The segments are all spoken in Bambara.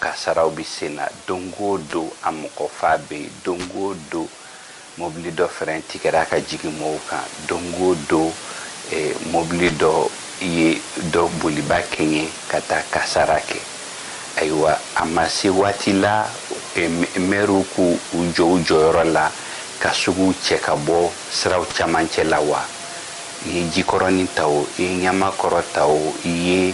Kasaraw bɛ sen na don o don, a mɔgɔ fa bɛ yen don o don, mobili dɔ fɛrɛn tigɛra ka jigin mɔɔw kan don o don, mobili dɔ ye dɔ boliba kɛɲɛ ka taa kasara kɛ. Ayiwa, a ma se waati la, mɛriw k'u jɔ u jɔyɔrɔ la ka suguw cɛ ka bɔ siraw camancɛ la wa? I ye Jikɔrɔnin ta o, i ye Ɲamakɔrɔ ta o, i ye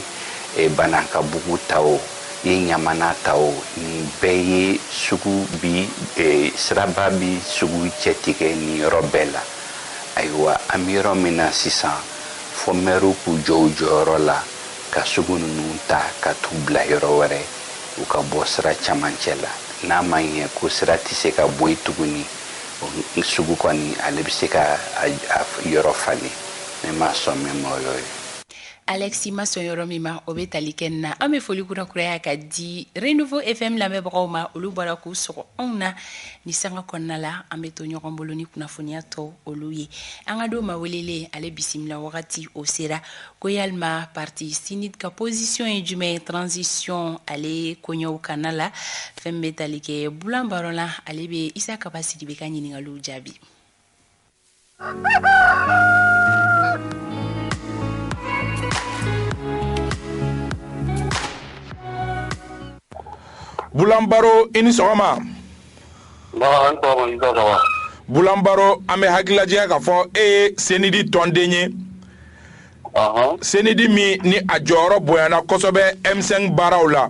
Banankabugu ta o, ye Ɲamana ta o nin bɛɛ ye sugu bi, siraba bi sugu cɛtigɛ nin yɔrɔ bɛɛ la ayiwa an bɛ yɔrɔ min na sisan fɔ mɛriw k'u jɔ u jɔyɔrɔ la ka sugu ninnu ta ka t'u bila yɔrɔ wɛrɛ u ka bɔ sira camancɛ la n'a ma ɲɛ ko sira tɛ se ka bɔ yen tuguni sugu kɔni ale bɛ se ka a yɔrɔ falen mɛ ma sɔn mɛ mɔyɔ ye Alexis ma sɔn yɔrɔ min ma o bɛ tali kɛ nin na an bɛ foli kura kuraya ka di Renouveau FM lamɛnbagaw ma olu bɔra k'u sɔgɔ anw na ni sanga kɔnɔna la an bɛ to ɲɔgɔn bolo ni kunnafoniya tɔ olu ye an ka don maa welelen ale bisimila wagati o sera ko yalima parti CNID ka position ye jumɛn ye transition ale koɲɛw kanna la fɛn bɛ tali kɛ Bulan Baro la ale bɛ Isa Kaba Sidibe ka ɲininkaliw jaabi. Bulan Baro i ni sɔgɔma. Nba a' ni sɔgɔma Isa Kaba. Bulan Baro an bɛ hakili lajigin k'a fɔ e ye Senidi tɔnden ye. Ɔnhɔn. Senidi min ni a jɔyɔrɔ bonyana kosɛbɛ M5 baaraw la.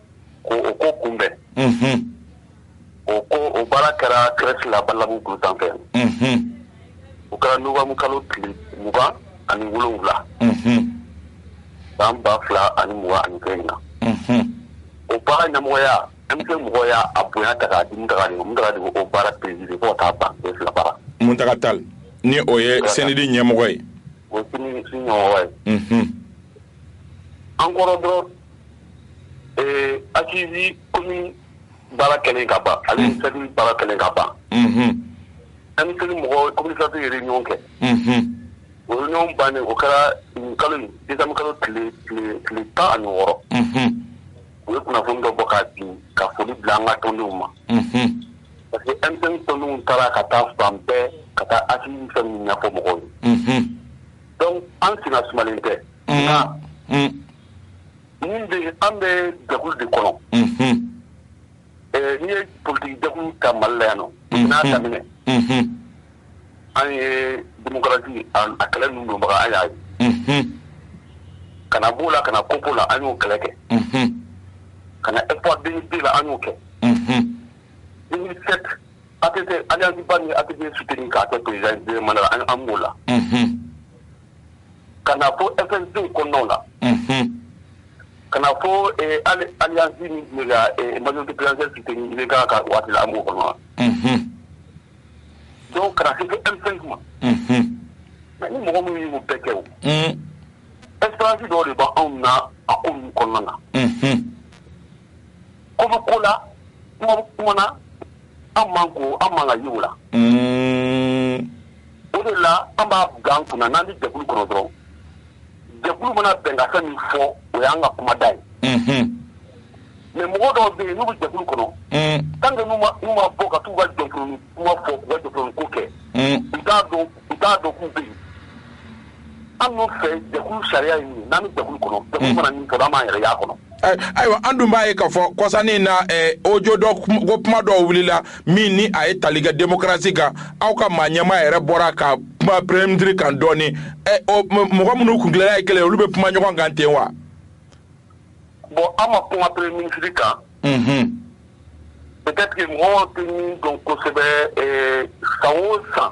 ko o ko kunbɛn o ko o baara kɛra CRES la Badalabugu kulu sanfɛ o kɛra nowanburu kalo tile mugan ani wolonwula san ba fila ani mugan ani kelen na o baara ɲɛmɔgɔya M5 mɔgɔw y' a bonya ta ka di Muntaga o baara président Muntaga Tal ni o ye Senidi ɲɛmɔgɔ ye o ye an kɔrɔ dɔrɔn Ee Assises commune baara kɛlen ka ban ale baara kɛlen ka ban M5 mɔgɔw ye réunion kɛ o réunion ban o kɛra nin kalo desanburu kalo tile tan ani wɔɔrɔ u ye kunnafoni dɔ bɔ ka di ka foli bila an ka tɔndenw ma parce que M5 tɔndenw taara ka taa fan bɛɛ ka taa a ɲɛfɔ mɔgɔw ye donc an senna sumalen tɛ min bɛ yen an bɛ jɛkulu de kɔnɔ n'i ye politigi jɛkulu ta Mali la yan nɔ depuis n'a daminɛ an ye démocratie a kɛlɛ ninnu donbaga an y'a ye ka na b'o la ka na COPPO la an y'o kɛlɛ kɛ ka na espoir 2002 la an y'o kɛ 2007 ATT alliance ba min ye ATT soutenir k'a kɛ président ye deuxième mandat la an b'o la. ka na fɔ fɛnw kɔnɔnaw la ka na fɔ alisi mali ka ka waati an b'o kɔnɔ dɔw kana se fɛn ma ni mɔgɔ minnu y'u bɛɛ kɛ esi dɔw de b' anw na a ko kɔnɔna na ko ko la An man ko an man ka ɲugu la o de la an b'an kan kunna n'an bɛ jɛkulu kɔnɔ dɔrɔn jɛkulu mana bɛnkan min fɔ o y'an ka kumada ye mais mɔgɔ dɔw bɛ yen n'u bɛ jɛkulu kɔnɔ tant que n'u ma bɔ ka taa u ka jɛkulu kuma fɔ u ka jɛkulu ko kɛ u t'a dɔn u t'a dɔn k'u bɛ yen anw fɛ jɛkulu sariya ye min ye n'an bɛ jɛkulu kɔnɔ jɛkulu mana min fɔ an b'an yɛrɛ y'a kɔnɔ Ay- ayiwa an dun b'a ye k'a fɔ kɔsa in na eh, audio dɔ kum- ko kuma dɔw wulila min ni a ye tali kɛ demokarasi kan aw ka maa ɲɛmaa yɛrɛ bɔra ka kuma premier ministre kan dɔɔni Eh, o m- mɔgɔ minnu kuntilenna ye kelen ye, olu bɛ kuma ɲɔgɔn kan ten wa bon an ma kuma premier ministre kan Mhm. peut-être que mɔgɔw tɛ min dɔn kosɛbɛ eh, san o san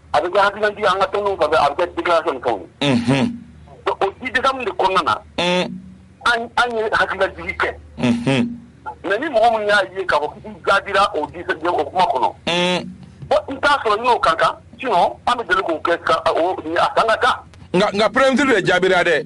a bɛ kɛ hakililantigi an ka tɔn a bɛ kɛ di kɛ o di de kɔnɔna na an ye hakililaj kɛ mɛ ni mɔgɔ min y'a ye ka bɔ jadira o di o kuma kɔnɔ n t'a sɔrɔ n'o ka kan an bɛ deli k'o kɛ a kan ka kan nka nka pɛti de ye jaabira dɛ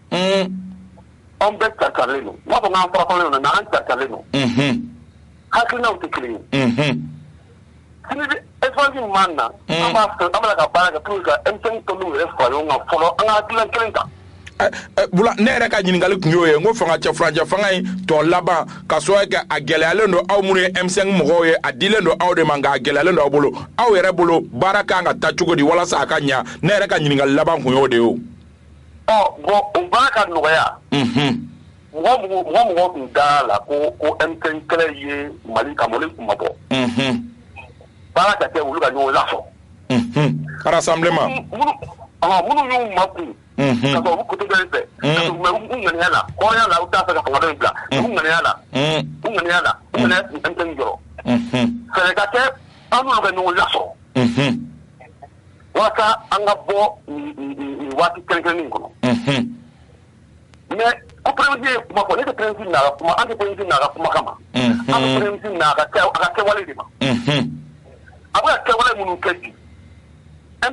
Anw bɛɛ carilen don n t'a fɔ k'an farafaralen don mais an carilen don hakilinaw tɛ kelen ye caman na an b'a fɛ an ka baara kɛ pour que ka M5 tɔndenw yɛrɛ fara ɲɔgɔn kan fɔlɔ an ka hakilina kelen ta ne yɛrɛ ka ɲininkali tun y'o ye n ko fanga cɛ furancɛ fanga in tɔ laban ka so kɛ a gɛlɛyalen don aw minnu ye M5 mɔgɔw ye a dilen don aw de ma nka a gɛlɛyalen don aw bolo aw yɛrɛ bolo baara kan ka taa cogo di walasa a ka ɲɛ ne yɛrɛ ka ɲininkali laban tun y'o de ye bon o baara ka nɔgɔya mɔgɔ tun da la ko M5 kɛlɛ ye Mali ka Mali kunmabɔ baara ka kɛ olu ka ɲɔgɔn lasɔrɔ parce que minnu y'u makun ka bɔ kutu fɛ ŋaniya la hɔrɔnya la u t'a fɛ ka fanga in bila u ŋaniya la u ŋaniya la M5 jɔyɔrɔ fɔlɔ ka kɛ an ka ɲɔgɔn lasɔrɔ walasa an ka bɔ waati kɛkɛin kɔnɔ mɛ ko pɛsi ye kuma fɔ ne tɛsi kuma an tɛsi kuma kama ma ka kɛwale de ma a bɛ kɛwale minnu kɛ bi e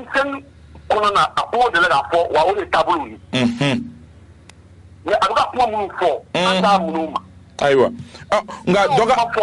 kɔnɔna na a ko deli ka fɔ wa o de taabolo ye mɛ a bɛ kuma minnu fɔ an taa minnu ma ayiwa nka fɔ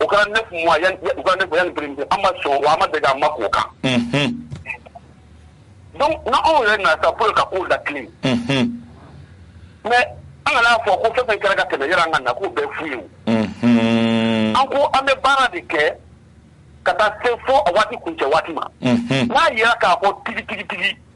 o kɛra 9 mois u ka 9 mois yan birin an ma sɔn wa an ma deli an ma k'o kan donc n'anw yɛrɛ nana sa pour ka kow latilen mais an kana fɔ ko fɛn fɛn kɛra ka tɛmɛ yɛrɛ an ka na k'o bɛɛ fu ye o an ko an bɛ baara de kɛ ka taa se fo a waati kuncɛ waati ma n'a yera k'a fɔ tigi tigi tigi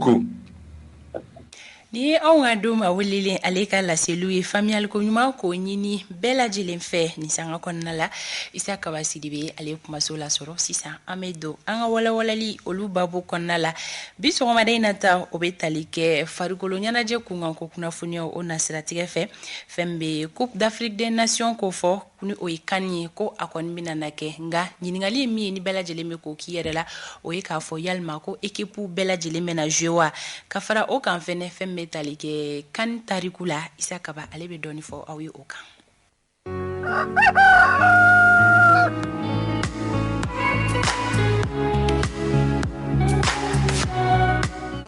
Ko nin ye anw ka don ma welelen ale ka laseliw ye faamuyali ko ɲuman k'o ɲini bɛɛ lajɛlen fɛ nin sanga kɔnɔna la isa kaba sidibe ale kumaso lasɔrɔ sisan an bɛ don an ka walawalali olu babu kɔnɔna la bi sɔgɔmada in na ta o bɛ tali kɛ farikolo ɲɛnajɛ kunkan ko kunnafoniyaw o na siratigɛ fɛ fɛn bɛ Coupe d'Afrique des Nations ko fɔ ni o ye CAN ye ko a kɔni bɛna na kɛ nka ɲininkali ye min ye ni bɛɛ lajɛlen bɛ k'o k'i yɛrɛ la o ye k'a fɔ yalima ko ekipw bɛɛ lajɛlen bɛna jouer wa ka fara o kan fɛn fɛn bɛ tali kɛ CAN tariku la isa kaba ale bɛ dɔɔnin fɔ aw ye o kan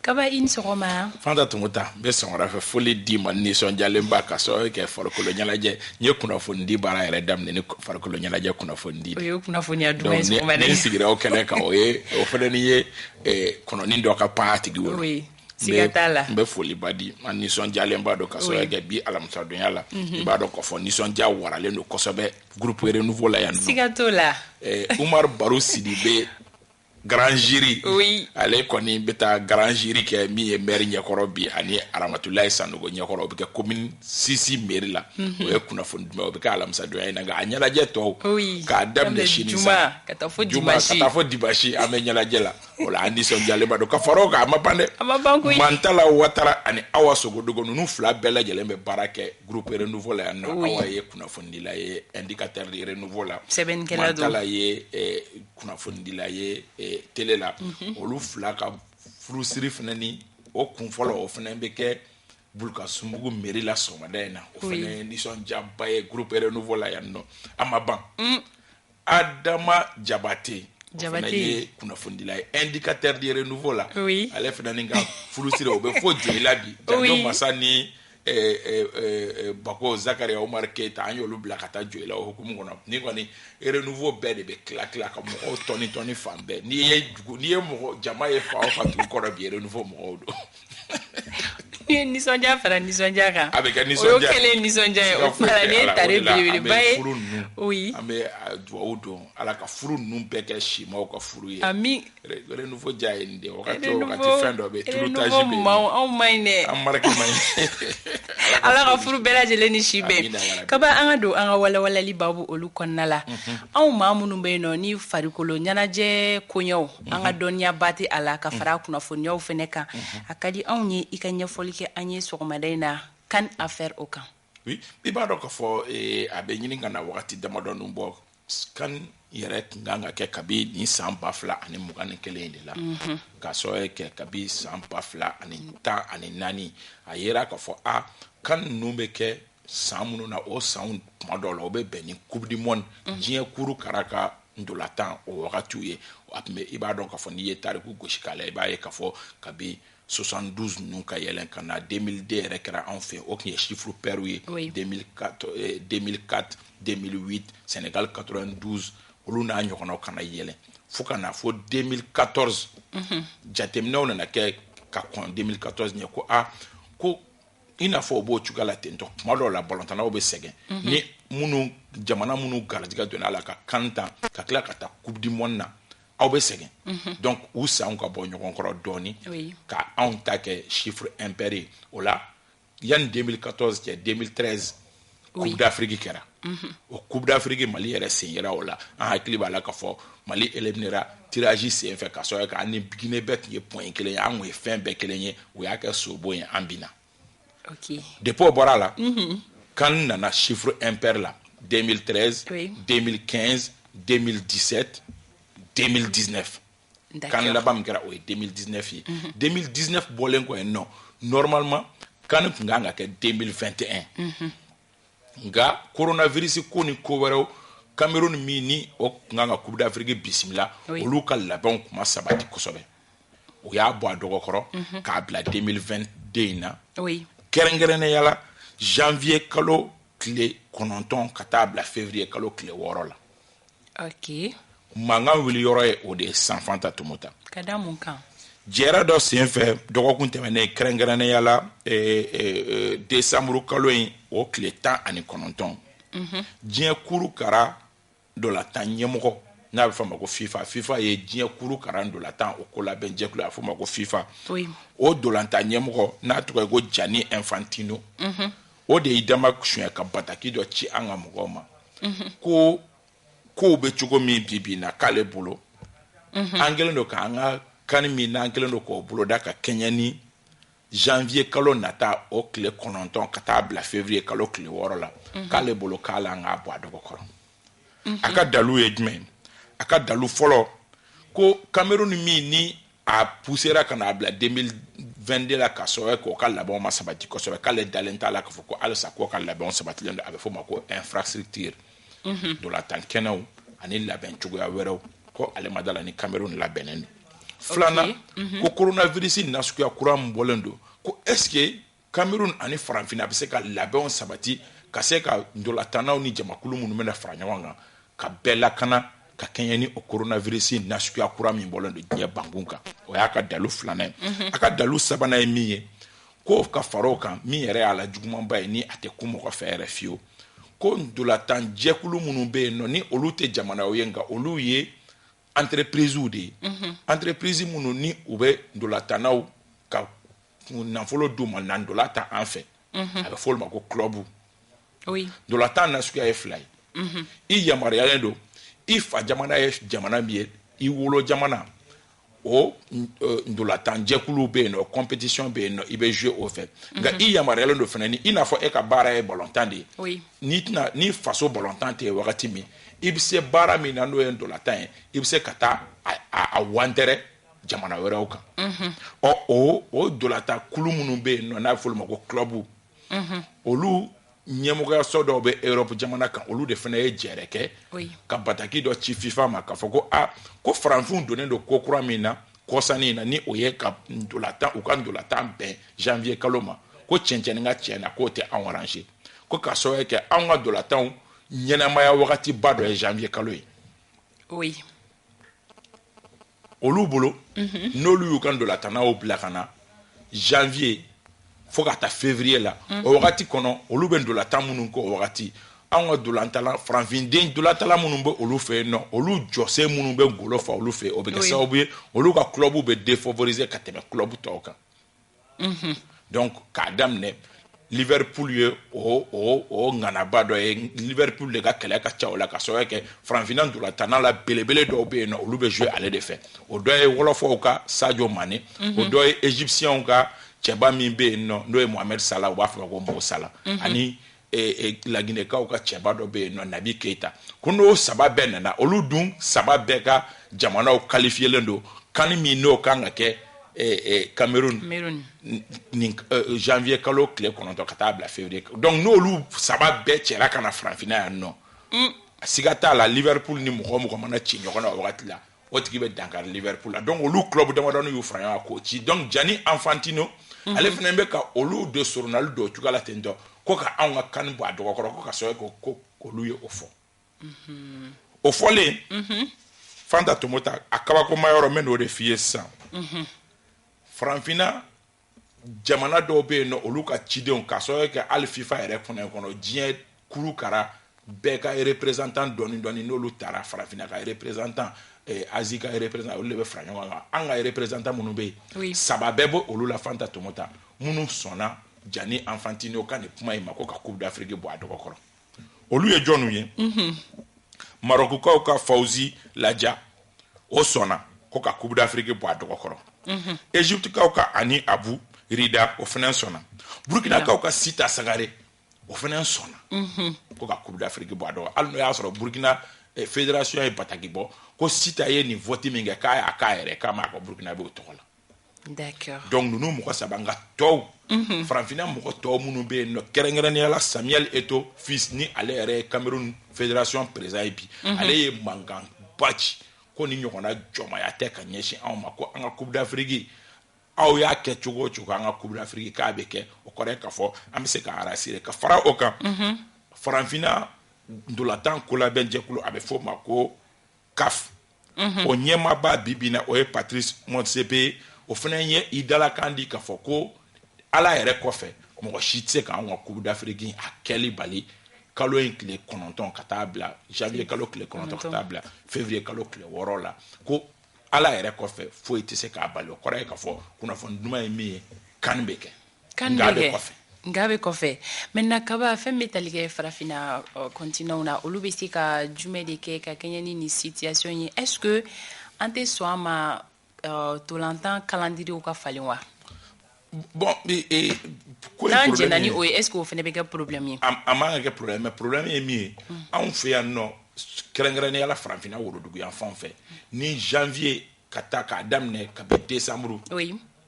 kaba i ni sɔgɔma fanta tun taa n bɛ sɔgɔma fɛ foli d'i ma nisɔndiyalenba ka sɔrɔ kɛ farikolo ɲɛnajɛ n ye kunnafonidi baara yɛrɛ daminɛ ni farikolo ɲɛnajɛ kunnafonidi o ye kunnafoniya duman ye sɔgɔma dɛ ne sigira o kɛnɛ kan o ye o fana ni ye eh, kɔnɔni dɔ ka pan a tigi wolo oui siga t'a la n bɛ foliba di an nisɔndiyalenba don ka sababuya kɛ bi alamisadonya la mhm. i b'a dɔn k'a fɔ nisɔndiya waralen don kosɛbɛ groupe renouveau la yan siga t'o la eh, umar baru sidibe Grand jury oui. ale kɔni bɛ taa grand jury kɛ min ye maire ɲɛkɔrɔ bi ani Aramatulayi Sanogo ɲɛkɔrɔ o bɛ kɛ commune 6 mairie la mm -hmm. o ye kunnafoni duman o bɛ kɛ alamisadonya in na nka a ɲɛnajɛ tɔw oui. k'a daminɛ sini sa ka taa fo dimanche ka taa fo dimanche an bɛ ɲɛnajɛ la o la an nisɔndiyalen ba don ka fara o kan a ma ban dɛ a ma ban koyi Mantala Watara ani Awa Sogodogo ninnu fila bɛɛ lajɛlen bɛ baara kɛ groupe renouveau la yan nɔ oui. Awa ye kunnafonidila ye indicateur de renouveau la sɛbɛnnikɛla don Mantala ye eh, kunnafonidila ye télé la olu fila ka furusiri fana ni o kun fɔlɔ o fana bɛ kɛ Bulkasumbugu mairie la sɔgɔmada in na o fana ye nisɔndiyaba ye groupe renouveau la yan nɔ a ma ban Adama Jabate ye kunnafonidila ye indicateur de renouveau la ale fana ka furusiri o bɛ fo Joyila bi masa ni bako zakariya omari keyita an y'olu bila ka taa joyila o hukumu kɔnɔ ni kɔni renouveau bɛɛ de bɛ tila tila ka mɔgɔw tɔni tɔni fan bɛɛ n'i ye dugu n'i ye mɔgɔ jama ye fan o fan dugu kɔrɔ bi renouveau mɔgɔw don ni nisɔndiya fara nisɔndiya kan a bɛ kɛ nisɔndiya kelen nisɔndiya ye o fara ne ta belebeleba ye o ye an bɛ dugawu don ala ka furu ninnu bɛɛ kɛ simaw ka furu ye amin renouveau diya ye nin de ye wagati o wagati fɛn dɔ bɛ tulu taji bɛ yen anw man ɲi dɛ an marque man ɲi ala ka furu bɛɛ lajɛlen ni si bɛn kaba an ka don an ka walawalali babu olu kɔnɔna la mhm. anw maa minnu bɛ yen nɔ ni farikolo ɲɛnajɛ koɲɛw mhm. an ka dɔnniyaba tɛ a la ka mhm. fara a kunnafoniyaw fana kan a ka di anw ye i ka ɲɛfɔli kɛ an ye sɔgɔmada in na kan affaire o kan oui i b'a dɔn k'a fɔ eh, a bɛ ɲini ka na wagati damadɔnu bɔ kan yɛrɛ tun kan ka kɛ kabi nin san ba fila ani mugan ni kelen de la mhm. k'a sɔrɔ kɛ kabi san ba fila ani tan ani naani a yera k'a fɔ a kan ninnu bɛ kɛ san minnu na o sanw tuma dɔw la o bɛ bɛn ni coupe du monde mhm. diɲɛ kuru kara ka ntolatan o wagatiw ye a tun bɛ i b'a dɔn k'a fɔ n'i ye tariku gosi k'a la i b'a ye k'a fɔ kabi 72 ninnu ka yɛlɛn ka na 2002 yɛrɛ kɛra anw fɛ o tun ye chiffre pair ye 2004 2004 2008 Sénégal 92 olu n'a ɲɔgɔnnaw ka na yɛlɛn fo ka na fo 2014 mhm. jateminɛw nana kɛ ka kɔn 2014 ɲɛ ko a ko i n'a fɔ o b'o cogoya la ten tɔ tuma dɔw la balɔntannaw bɛ sɛgɛn mhm. ni minnu jamana minnu garijɛgɛ donna a la ka kan tan ka tila ka taa coupe du monde na aw bɛ sɛgɛn mhm. donc u sanw ka bɔ ɲɔgɔn kɔrɔ dɔɔni ka anw ta kɛ chiffre impair ye o la yanni 2014 cɛ 2013 coupe d'afrique kɛra mhm. o coupe d'afrique mali yɛrɛ sen yera o la an hakili b'a la k'a fɔ mali éliminera tirage sen fɛ k'a sɔrɔ ka an ni guinée bɛɛ tun ye point kelen ye an tun ye fɛn bɛɛ kelen ye u y'a kɛ sobo ye an bina de o bɔra a la kan nana sifuru epɛ la den den kɛ den disɛte den diinɛ kan laban kɛra o ye den diinɛ ye den diinɛ bɔlen kɔ yen nɔɔrɔmama kan tun kan ka kɛ den fɛn tɛ nka korona visi ko ni ko wɛrɛ kamalenmeri min ni o tun kan ka kudafiri bisimila olu ka labɛnw kuma sabati kosɛbɛ u y'a bɔ a dɔgɔkɔrɔ k'a bila 2022 in na kɛrɛnkɛrɛnnenya la janvier kalo tile kɔnɔntɔn ka taa bila février kalo tile wɔɔrɔ la mankan wuli yɔrɔ ye o de ye sa fanta tumuta jɛrɛ dɔ sen fɛ dɔgɔkun tɛmɛnen kɛrɛnkɛrɛnnenya la eh, eh, eh, desanburu kalo in o tile tan ani kɔnɔntɔn diɲɛ kuru kara Dolatan ɲɛmɔgɔ n'a bɛ fɔ ma ko fifa fifa ye diɲɛ kuru kara dolatan o ko labɛnjɛkulu a fɔ ma ko fifa o dolatan ɲɛmɔgɔ n'a tɔgɔ ye ko Gianni Infantino o de y'i dama suɲɛ ka bataki dɔ ci an ka mɔgɔw ma ko kow bɛ cogo min bi bi na k'ale bolo an kɛlen don k'an ka CAN min n'an kɛlen don k'o boloda ka kɛɲɛ ni janvier kalo nata o kile kɔnɔntɔn ka taa bila février kalo kile wɔɔrɔ la mhm. k'ale bolo k'a la an k'a bɔ a dɔgɔ kɔrɔ mhm. a ka dalu ye jumɛn a ka dalu fɔlɔ ko cameroun min ni a pusera ka n'a bila 2022 la ka sɔrɔ k'o ka labɛnw ma sabati kosɛbɛ k'ale dalen t'a la k'a fɔ ko halisa k'o ka labɛnw sabatilen don a bɛ fɔ o ma ko infrastructure mhm. dolatan kɛnɛw ani labɛn cogoya wɛrɛw ko ale ma d'a la ni cameroun labɛnnen don filanan mhm. ko coronavirus nasuguya kura min bɔlen don ko est ce que cameroun ani faranfina a bɛ se ka labɛnw sabati ka se ka ntolatannaw ni jamakulu minnu bɛna fara ɲɔgɔn kan ka bɛɛ lakana ka kɛɲɛ ni o coronavirus nasuguya kura min bɔlen don diɲɛ bankun kan o y'a ka dalu filanan ye mhm. a ka dalu sabanan ye min ye ko ka fara o kan min yɛrɛ y'a la jugumanba ye ni a tɛ kun mɔgɔ fɛ yɛrɛ fiyewu ko ntolatan jɛkulu minnu bɛ yen nɔ ni olu tɛ jamanaw ye nka olu ye entreprisew de ye mhm. entreprise minnu ni u bɛ ntolatannaw ka nafolo d'u ma na ntola tan an fɛ mhm. a bɛ fɔ olu ma ko club oui. ndolantan nasuguya ye fila ye mm -hmm. i yamaruyalen don i fa jamana ye jamana min ye i wolo jamana o ndolantan jɛkuluw bɛ yen nɔ competition bɛ yen nɔ i bɛ jouer o fɛ nka i yamaruyalen don fana ni i n'a fɔ e ka baara ye balontan de ye n'i tɛna ni faso balontan tɛ yen wagati min i bɛ se baara min na n'o ye ndolantan ye i bɛ se ka taa a wantɛrɛ jamana wɛrɛw kan ɔ o o ndolantan kulu minnu bɛ yen nɔ n'a bɛ f'olu ma ko club olu ɲɛmɔgɔyaso dɔw bɛ Europe jamana kan olu de fana ye jɛrɛ kɛ ka bataki dɔ ci FIFA ma k'a fɔ ko a ah, ko faranfinw donnen don ko kura min na kɔsa nin na ni o ye ka ntolatan u ka ntolatan bɛn janvier kalo ma ko cɛncɛnni ka cɛn na k'o tɛ anw arranger ko k'a sababu kɛ anw ka ntolatanw ɲɛnamaya wagatiba dɔ ye janvier kalo ye. Oui. olu bolo n'olu y'u ka ntolatannaw bila ka na janvier fo ka taa février la mhm. o wagati kɔnɔ olu bɛ ntolatan minnu kɛ o wagati anw ka dolantala farafinden dolantala minnu bɛ olu fɛ yen nɔ olu jɔsen minnu bɛ golo fa olu fɛ o bɛ kɛ sababu ye olu ka club bɛ défavoriser ka tɛmɛ club tɔw kan donc k'a daminɛ liverpool ye o o o ŋanaba dɔ ye liverpool de ka kɛlɛ ka ca o la k'a sababu kɛ faranfina ntolantanna la belebele dɔw bɛ yen nɔ olu bɛ jouer ale de fɛ o dɔ ye wɔlɔfɔw ka sadio mané o dɔ ye égyptienw ka cɛba min bɛ yen nɔ n'o ye mohamed salah u b'a fɔ ma ko mo salah ani laginɛkaw ka cɛba dɔ bɛ yen nɔ nabi keyita ko n'o saba bɛɛ nana olu dun saba bɛɛ ka jamanaw kalifiyelen don CAN min n'o kan ka kɛ Cameroun ni janvier kalo tile kɔnɔntɔn ka taa bila février donc n'olu saba bɛɛ cɛra ka na farafinna yan nɔ a siga t'a la Liverpool ni mɔgɔ o mɔgɔ mana ci ɲɔgɔn na o wagati la o tigi bɛ dankari Liverpool la donc olu club damadɔni y'u fara ɲɔgɔn kan k'o ci donc Gianni Infantino ale fana bɛ ka olu de soronadon cogoya la ten dɔn ko ka anw ka CAN bɔ a dɔgɔkɔrɔ ko ka so ko ko olu ye o fɔ o fɔlen fanta tomota a kabakomayɔrɔ n bɛ n'o de f'i ye sisan farafinna jamana dɔw bɛ yen nɔ olu ka cidenw ka sɔrɔ kɛ hali FIFA yɛrɛ kɔnɔ kɔnɔ diɲɛ kuru kara bɛɛ ka représentant dɔɔni dɔɔni n'olu taara farafinna ka représentant eh, Asie ka représentant olu de bɛ fara ɲɔgɔn kan an ka représentant minnu bɛ yen saba bɛɛ bɔ olu la fanta tomota minnu sɔnna Gianni Infantino ka nin kuma in ma ko ka Coupe d'Afrique bɔ a dɔgɔkɔrɔ olu ye jɔnw ye mhm. marokukaw ka fawuzi laja o sɔnna ko ka coupe d'afrique bɔ a dɔgɔkɔrɔ mhm. egyptekaw ka hani abu rida o fana sɔnna burkinakaw ka sita sangare o fana sɔnna mhm. ko ka coupe d'afrique bɔ a dɔgɔ hali n'o y'a sɔrɔ burkina eh, fédération ye bataki bɔ ko sita ye nin vote min kɛ k'a y'a k'a yɛrɛ k'a m'a kɛ burkinabɛw tɔgɔ la donc ninnu mɔgɔ saba nka tɔw mhm. farafinna mɔgɔ tɔw minnu bɛ yen nɔ kɛrɛnkɛrɛnnenya la Samuel Eto'o fils ni ale yɛrɛ ye Cameroun fédération président ye bi mhm. ale ye mankanba ci ko nin ɲɔgɔnna jɔnmaya tɛ ka ɲɛsin anw ma ko an ka Coupe d'Afrique aw y'a kɛ cogo o cogo an ka Coupe d'Afrique k'a bɛ kɛ o kɔrɔ ye k'a fɔ an bɛ se k'an rassurer ka fara o kan mhm. farafinna ntolatan kolabɛnjɛkulu a bɛ fɔ o ma ko CAF o ɲɛmaaba bi bi in na o ye Patrice Motsepe ye o fana ye i dalakan di k'a fɔ ko Ala yɛrɛ kɔfɛ mɔgɔ si tɛ se ka anw ka Coupe d'Afrique a kɛli bali kalo in tile kɔnɔntɔn ka taa bila janvier kalo tile kɔnɔntɔn ka taa bila février kalo tile wɔɔrɔ la ko Ala yɛrɛ kɔfɛ foyi tɛ se k'a bali o kɔrɔ ye k'a fɔ kunnafoni duman ye min ye CAN bɛ kɛ. Nka a bɛɛ kɔfɛ maintenant Kaba fɛn bɛ tali kɛ farafinna continent na olu bɛ se ka jumɛn de kɛ ka kɛɲɛ ni nin situation ye est ce que an tɛ sɔn a ma ntolantan calendrier ka falen wa? Bon ee ko n'an jɛnna ni o ye est ce que o fana bɛ kɛ problème ye? A man kan ka kɛ problème ye mais problème ye min ye anw fɛ yan nɔ kɛrɛnkɛrɛnnenya la farafinna woroduguyanfan fɛ ni janvier ka taa k'a daminɛ kabi décembre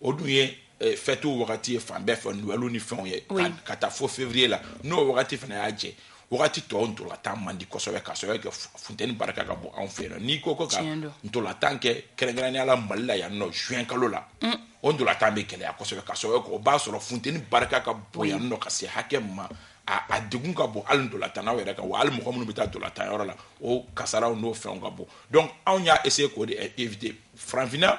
o dun ye eh, fɛtiw wagati ye fan bɛɛ fɛ nowɛli ni fɛnw ye ka taa fo février la n'o wagati fana y'a jɛ wagati tɔw ntolatan man di kosɛbɛ ka sababu kɛ funteni barika ka bon anw fɛ yen n'i ko ko ka ntolatan kɛ kɛrɛnkɛrɛnnenya la mali la yan nɔ juin kalo la mm. o ntolatan bɛ gɛlɛya kosɛbɛ ka sababu kɛ o b'a sɔrɔ funteni barika ka bon yan nɔ ka se hakɛ ma a degun ka bon hali ntolatannaw yɛrɛ kan wa hali mɔgɔ minnu bɛ taa ntolatan yɔrɔ la o kasaraw n'o fɛnw ka bon donc anw y'a essayer k'o de éviter farafinna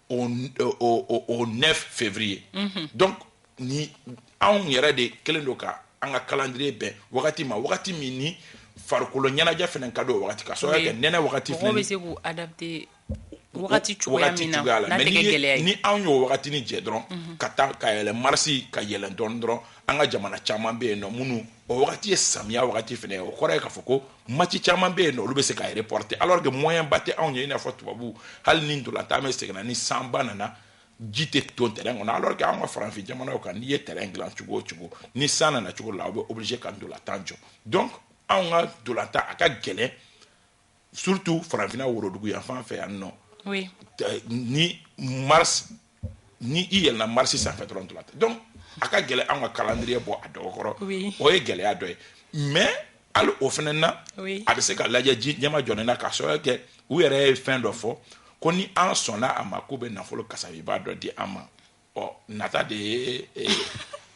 au, au, au, au 9 février mm -hmm. donc ni anw yɛrɛ de kelen don ka an ka calendrier bɛn wagati ma wagati min ni farikolo ɲɛnajɛ fana ka don wagati ka sababu kɛ nɛnɛ wagati fana bɛ se k'u adapter wagati cogoya min na n'a tɛ kɛ gɛlɛya ye ni anw y'o wagatini jɛ dɔrɔn mhm. ka taa ka yɛlɛ marisi ka yɛlɛ dɔɔni dɔrɔn an ka jamana caman bɛ yen nɔ minnu o wagati ye samiya wagati fana ye o kɔrɔ ye k'a fɔ ko match caman bɛ yen nɔ olu bɛ se ka reporte alors que moyen ba tɛ anw ye i n'a fɔ tubabu hali ni ntolatan bɛ sen na ni sanba nana ji tɛ ton terrain kɔnɔ alors que anw ka farafin jamanaw kan n'i ye terrain dilan cogo o cogo ni san nana cogo la aw bɛ obligé ka ntolatan jɔ donc anw ka ntolatan a ka gɛlɛn surtout farafinna worodugu yan fan fɛ yan nɔ oui. ni mars ni i yɛlɛna marisi sanfɛ dɔrɔn ntolatan donc a ka gɛlɛn an ka calendrier bɔ a dɔgɔkɔrɔ oui. o ye gɛlɛya dɔ ye mais hali o fana na oui. a bɛ se ka lajɛ ji ɲɛma jɔnen na k'a sababu kɛ u yɛrɛ ye fɛn dɔ fɔ ko ni an sɔnna a ma k'u bɛ nafolo kasabiba dɔ di an ma ɔ nata de ye eh,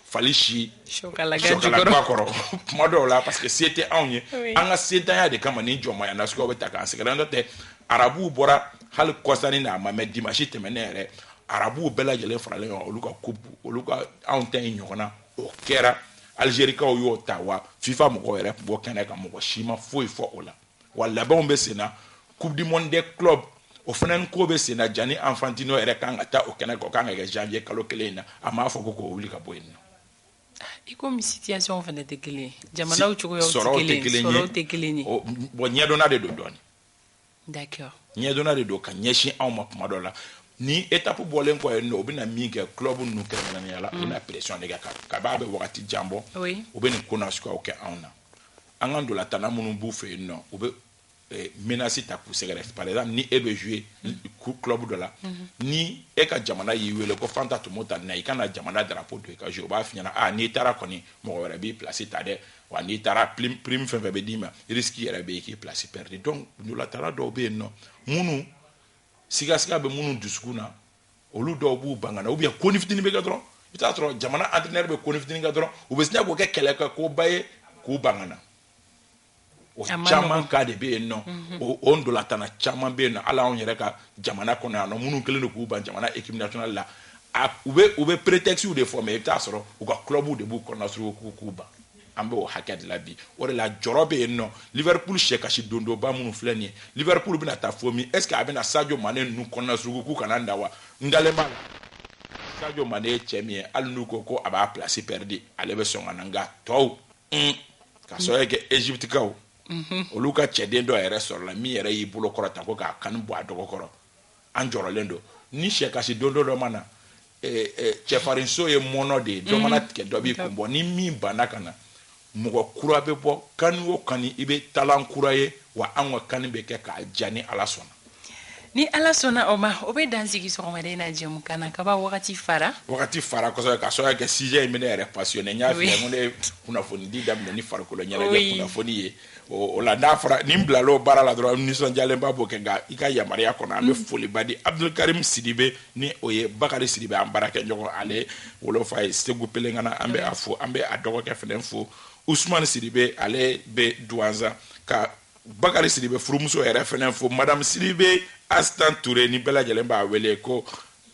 fali si sɔkalaba kɔrɔ kuma dɔw la parce que se tɛ anw ye an ka sentanya de kama ni jɔnmaya nasuguw bɛ ta k'an sɛgɛrɛ n'o tɛ arabuw bɔra hali kɔsa nin na a ma mɛn dimansi tɛmɛnen yɛrɛ arabuw bɛɛ lajɛlen faralen ɲɔgɔn olu ka coupe olu ka anw ta in ɲɔgɔnna o kɛra alizerikaw y'o ta wa fifa mɔgɔw yɛrɛ tun b'o kɛnɛ kan mɔgɔ si ma foyi fɔ o la wa labɛnw bɛ sen na coupe du monde des clubs o fana ko bɛ sen na Gianni Infantino yɛrɛ kan ka taa o kɛnɛ kan o kan ka kɛ janvier kalo kelen in na a m'a fɔ ko k'o wuli ka bɔ yen nɔ. i komi situation fana tɛ kelen ye jamanaw cogoyaw tɛ kelen ye sɔrɔw tɛ kelen ye bon ɲɛdɔnna de don dɔɔni d'accord ɲɛdɔnna de don ka ɲɛsin anw ma kuma dɔ la ni étape bɔlen kɔ yen nɔ u bɛna min kɛ club ninnu kɛrɛnkɛrɛnnenya la u bɛna pression de kɛ ka b'a bɛ wagati jan bɔ u bɛ nin ko nasuguyaw kɛ anw na an ka ntolatanna minnu b'u fɛ yen nɔ u bɛ eh, menasi ta k'u sɛgɛrɛ par exemple ni e bɛ jouer club dɔ la ni e ka jamana y'i wele ko fanta tumu ta na i ka na jamana drapeau don i ka jouer u b'a f'i ɲɛna ah n'i taara kɔni mɔgɔ wɛrɛ b'i place ta dɛ wa n'i taara prime prime fɛn fɛn bɛ d'i ma risque yɛrɛ bɛ yen k'i place perdre donc ntolatanna dɔw bɛ yen nɔ minnu sigasiga bɛ minnu dusukun na olu dɔw b'u ban ka na ubiyɛn koni fitini bɛ kɛ dɔrɔn i t'a sɔrɔ jamana antrenɛri bɛ koni fitini kɛ dɔrɔn u bɛ sina k'o kɛ kɛlɛ kɛ koba ye k'u ban ka na o caman ka de bɛ yen nɔ mhm. o ntolatanna caman bɛ yen nɔ hali anw yɛrɛ ka jamana kɔnɔ yan nɔ minnu kɛlen don k'u ban jamana ekipi nasionali la u bɛ u bɛ peretɛkisiw de fɔ mɛ i bɛ t'a sɔrɔ u ka kulɔbuw de b'u kɔnɔnasuruku k'u ban an b'o hakɛ de la bi o de la jɔrɔ bɛ yen nɔ liverpool sɛ kasi dondonba minnu filɛ nin ye liverpool bɛna taa fo min est ce que a bɛna sadio mane ninnu kɔnɔna suruku k'u kana na wa n dalen b'a la sadio mane ye cɛ min ye hali n'u ko ko a b'a place pɛridi ale bɛ sɔn ka na nka tɔw un ka sɔrɔ kɛ egyptikaw mhm. olu ka cɛden dɔ yɛrɛ sɔrɔla min yɛrɛ y'i bolo kɔrɔta ko ka kani bɔ a dɔgɔ kɔrɔ an jɔrɔlen don ni sɛ kasi dondon dɔ ma na cɛfarinso ye mɔnɔ de ye dɔ mana tigɛ dɔ b'i kun bɔ ni min banna ka na mɔgɔ kura bɛ bɔ kani o kani i bɛ talan kura ye wa an ka kani bɛ kɛ k'a ja ni ala sɔnna ni ala sɔnna o ma o bɛ dansigi sɔgɔmada in na jɛmukan na kaba wagati fara wagati fara kosɛbɛ ka sɔrɔ kɛ sijɛ in bɛ ne yɛrɛ pasiyɔne n y'a fɔ ko ne kunnafonidi daminɛ ni farikolo ɲɛnajɛ kunnafoni ye o la d'a fɔra ni n bilala o baara la dɔrɔn nisɔndiyalenba b'o kɛ nka i ka yamaruya kɔnɔ an bɛ mm. foliba di abudulikarim sidibe ni o ye bakari sidibe an baarakɛɲɔgɔn ale wolofa ye segu pelengana an bɛ a fo an bɛ a dɔgɔkɛ fɛnɛ fo usumani sidibe ale bɛ duwanza ka bakari sidibe furumuso yɛrɛ fɛnɛ fo madamu sidibe asitan ture ni bɛɛ lajɛlen b'a wele ko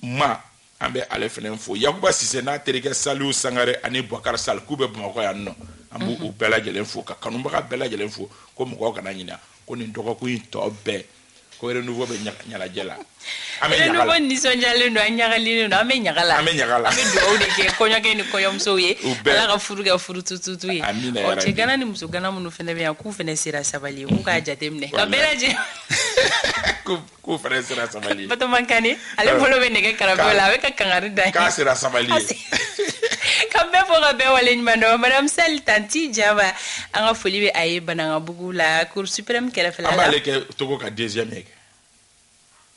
ma An bɛ ale fɛnɛ fo Yakuba Sise n'a terikɛ Saliu Sangare ani Buakari Sal k'u bɛ Bamakɔ yan nɔ. An b'u u bɛɛ lajɛlen fo ka kanubaga bɛɛ lajɛlen fo ko mɔgɔw kana ɲina ko nin dɔgɔkun in tɔ bɛɛ ko Renouveau bɛ ɲanajɛ la. An bɛ ɲaga la. Renouveau nisɔndiyalen don, a ɲagalilen don. An bɛ ɲaga la. An bɛ ɲaga la. An bɛ dugawu de kɛ kɔɲɔkɛ ni kɔɲɔmusow ye. U bɛɛ. Ala ka furu kɛ furu tututu ye. Amina yarabi. Ɔ cɛ gana ni muso gana minnu fana bɛ yan k'u fana sera sabali ye k'u k'a jateminɛ. Walahi. Ka bɛɛ lajɛ. Ko K'u fana sera sabali Batoma Kani ale bolo bɛ nɛgɛ karafe la a bɛ ka kangari da k'a sera sabali ka bɛɛ fo ka bɛɛ waleɲuman dɔn madame Sali tanti Jaba an ka foli bɛ a ye Banankabugu la cour suprême kɛrɛfɛla la an b'ale kɛ Togo ka deuxième ye kɛ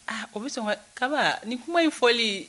ah o bɛ sɔn ka kaba ni kuma in fɔli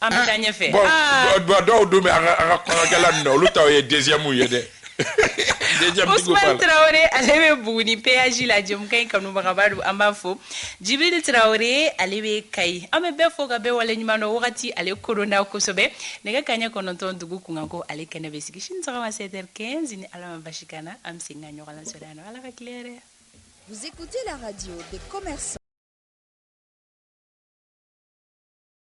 An bɛ taa ɲɛfɛ. Bon ah. dɔw dun bɛ an ka an ka kɔɲɔkɛla ninnu na olu taw ye deuxième ye dɛ. Ousmane Traoré ale bɛ Buguni péage la jɛmukan in kanubagaba don an b'a fo. Jibril Traoré ale bɛ Kayi. An bɛ bɛɛ fo ka bɛɛ waleɲuman dɔn wagati ale koronna kosɛbɛ. Nɛgɛ kaɲɛ kɔnɔntɔn dugu kunkanko ale kɛnɛ bɛ sigi sini sɔgɔma 7 heures 15 ni Ala ma basi k'an na an bɛ segin ka ɲɔgɔn lasɔrɔ yan nɔ Ala ka tile hɛrɛ. Vous écoutez la radio des commerçants.